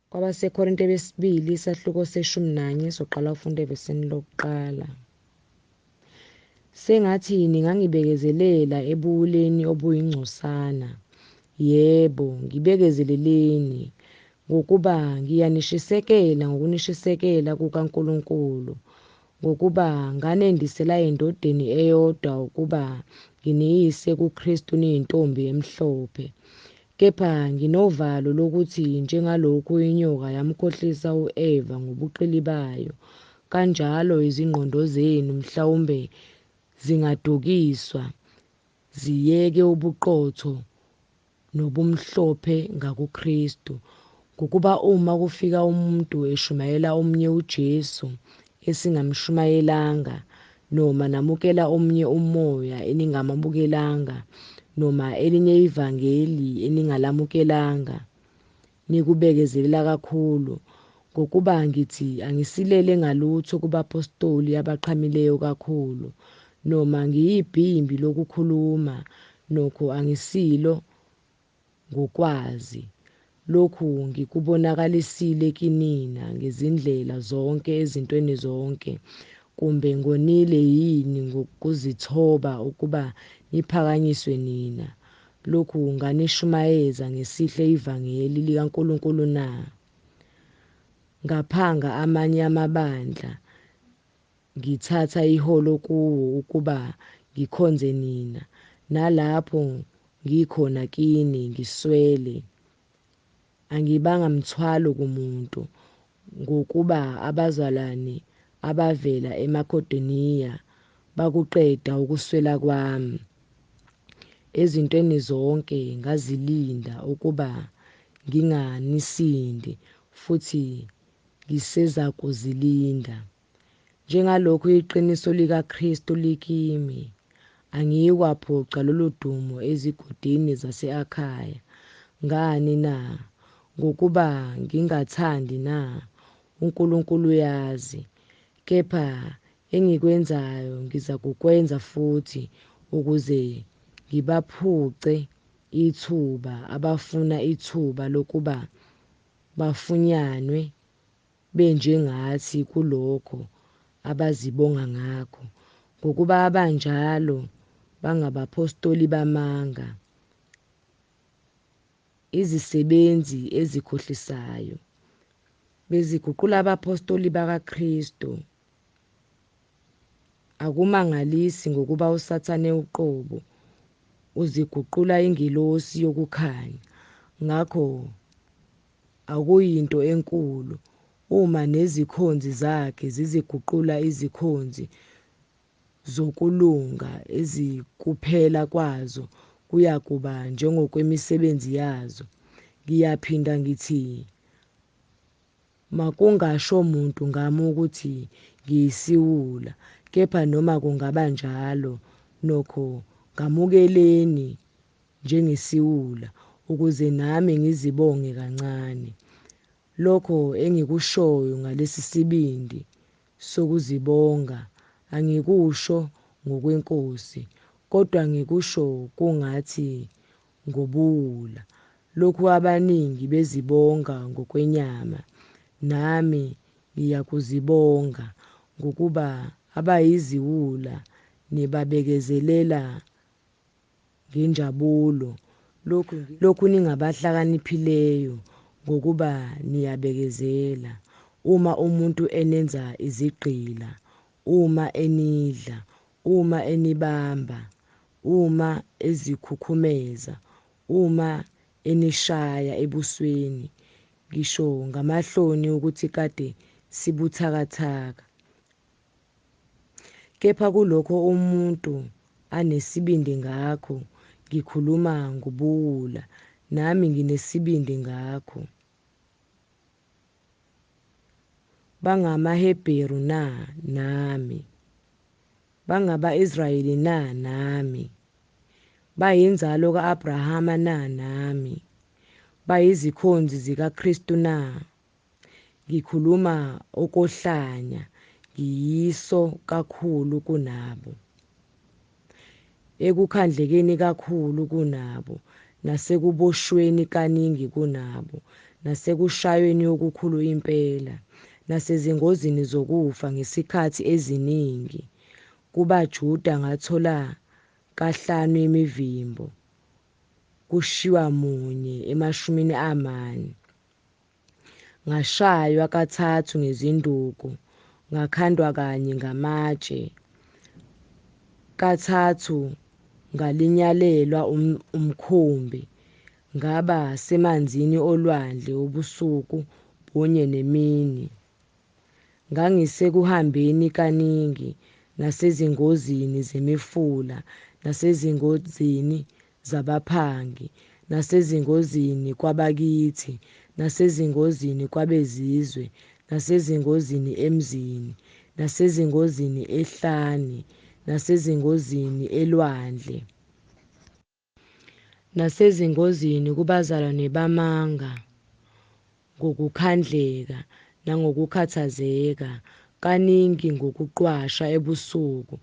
KwabaseKorinte besibili isahluko seshumi nanye soqala ufunda evesini lokuqala. Sengathi ningangibekezelela ebuwuleni obuyingcosana. Yebo, ngibekezeleleni, ngokuba ngiyanishisekela ngokunishisekela kukaNkulunkulu, ngokuba nganendisela endodeni eyodwa ukuba nginiyise kuKristu niyintombi emhlophe. Kepha nginovalo lokuthi njengalokhu inyoka yamkhohlisa u-Eva ngobuqili bayo, kanjalo izingqondo zenu mhlawumbe zingadukiswa ziyeke ubuqotho nobumhlophe ngakuKristu. Ngokuba uma kufika umuntu eshumayela omunye uJesu, esingamshumayelanga, noma namukela omunye umoya eningamamukelanga, noma elinye ivangeli eningalamukelanga, nikubekezelela kakhulu, ngokuba ngithi angisilele ngalutho kubapostoli abaqhamileyo kakhulu, noma ngiyibhimbi lokukhuluma, nokho angisilo, ngokwazi. Lokhu ngikubonakalisile kinina ngezindlela zonke ezintweni zonke. Kumbe ngonile yini ngokuzithoba ukuba niphakanyiswe nina? Lokhu nganishumayeza ngesihle ivangeli likaNkulunkulu na? Ngaphanga amanye amabandla, Ngithatha iholo kuwo ukuba ngikhonze nina, nalapho ngikhona kini ngiswele. Angibanga mthwalo kumuntu, ngokuba abazalwane abavela eMakedoniya bakuqeda ukuswela kwami. Ezintweni zonke ngazilinda ukuba nginganisindi, futhi ngisezakuzilinda. Njengalokhu iqiniso likaKristu likimi, angiyikwaphuca lolu dumo ezigodini zase-Akhaya. Ngani na? Ngokuba ngingathandi na? UNkulunkulu uyazi. Kepha engikwenzayo ngizakukwenza futhi ukuze ngibaphuce ithuba abafuna ithuba lokuba bafunyanwe benjengathi kulokho abazibonga ngakho, ngokuba abanjalo bangabaphostoli bamanga, izisebenzi ezikhohlisayo, beziguqula abaphostoli bakaKristu. Akumangalisi ngokuba uSathane uqobo uziguqula ingelosi yokukhanya. Ngakho Akuyinto enkulu uma nezikhonzi zakhe ziziguqula izikhonzi zokulunga ezikuphela kwazo kuyakuba njengokwemisebenzi yazo. Ngiyaphinda ngithi, Makungasho muntu ngami ukuthi ngiyisiwula, kepha noma kungaba njalo, nokho ngamukeleni njengesiwula ukuze nami ngizibonge kancane. Lokho engikushoyo ngalesi sibindi sokuzibonga angikusho ngokwenkosi kodwa ngikusho kungathi ngobuwula. Lokhu abaningi bezibonga ngokwenyama nami ngiyakuzibonga ngokuba abayiziwula nibabekezelela ngenjabulo lokhu, lokhu ningabahlakaniphileyo ngokuba niyabekezela uma umuntu enenza izigqila, uma enidla, uma enibamba, uma ezikhukhumeza, uma enishaya ebusweni, ngisho ngamahloni ukuthi kade sibuthakathaka. Kepha kulokho umuntu anesibindi ngakho, ngikhuluma ngobuwula, nami nginesibindi ngakho. BangamaHebheru na? Nami. Bangaba-Israyeli na? Nami. Bayinzalo ka-Abrahama na? Nami. Bayizikhonzi zikaKristu na? ngikhuluma okohlanya ngiyiso kakhulu kunabo ekukhandlekeni kakhulu kunabo nasekuboshweni kaningi kunabo nasekushayweni okukhulu impela nasezingozini zokufa ngesikhathi eziningi kubaJuda ngathola kahlanu imivimbo kushiwa munye emashumini amane ngashaywa kathathu ngezinduku ngakhandwa kanye ngamatshe kathathu ngalinyalelwa um-, umkhumbi ngaba semanzini olwandle ubusuku bunye nemini Ngangisekuhambeni kaningi nasezingozini zemifula nasezingozini zabaphangi nasezingozini kwabakithi nasezingozini kwabezizwe nasezingozini emzini nasezingozini ehlane nasezingozini elwandle. nasezingozini kubazalwane bamanga ngokukhandleka nangokukhathazeka, kaningi ngokuqwasha ebusuku,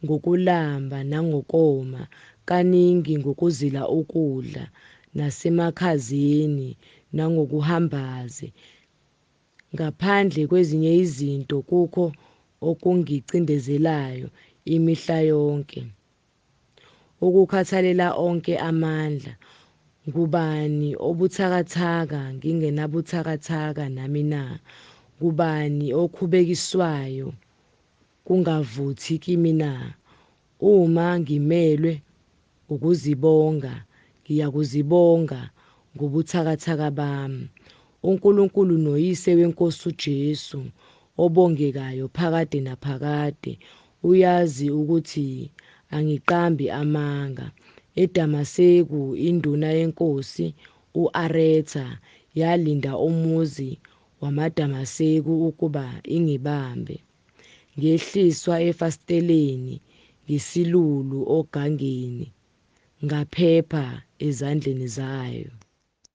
ngokulamba nangokoma, kaningi ngokuzila ukudla, nasemakhazeni nangokuhambaze. Ngaphandle kwezinye izinto kukho okungicindezelayo imihla yonke, Ukukhathalela onke amandla. Ngubani obuthakathaka ngingenabuthakathaka nami na? Ngubani okhubekiswayo kungavuthi kimi na? Uma ngimelwe ukuzibonga, ngiyakuzibonga ngobuthakathaka bami. UNkulunkulu noYise weNkosi uJesu, obongekayo phakade naphakade, Uyazi ukuthi angiqambi amanga. EDamaseku induna yenkosi u-Aretha yalinda umuzi wamaDamaseku ukuba ingibambe. Ngehliswa efasiteleni ngesilulu ogangeni, ngaphepha ezandleni zayo.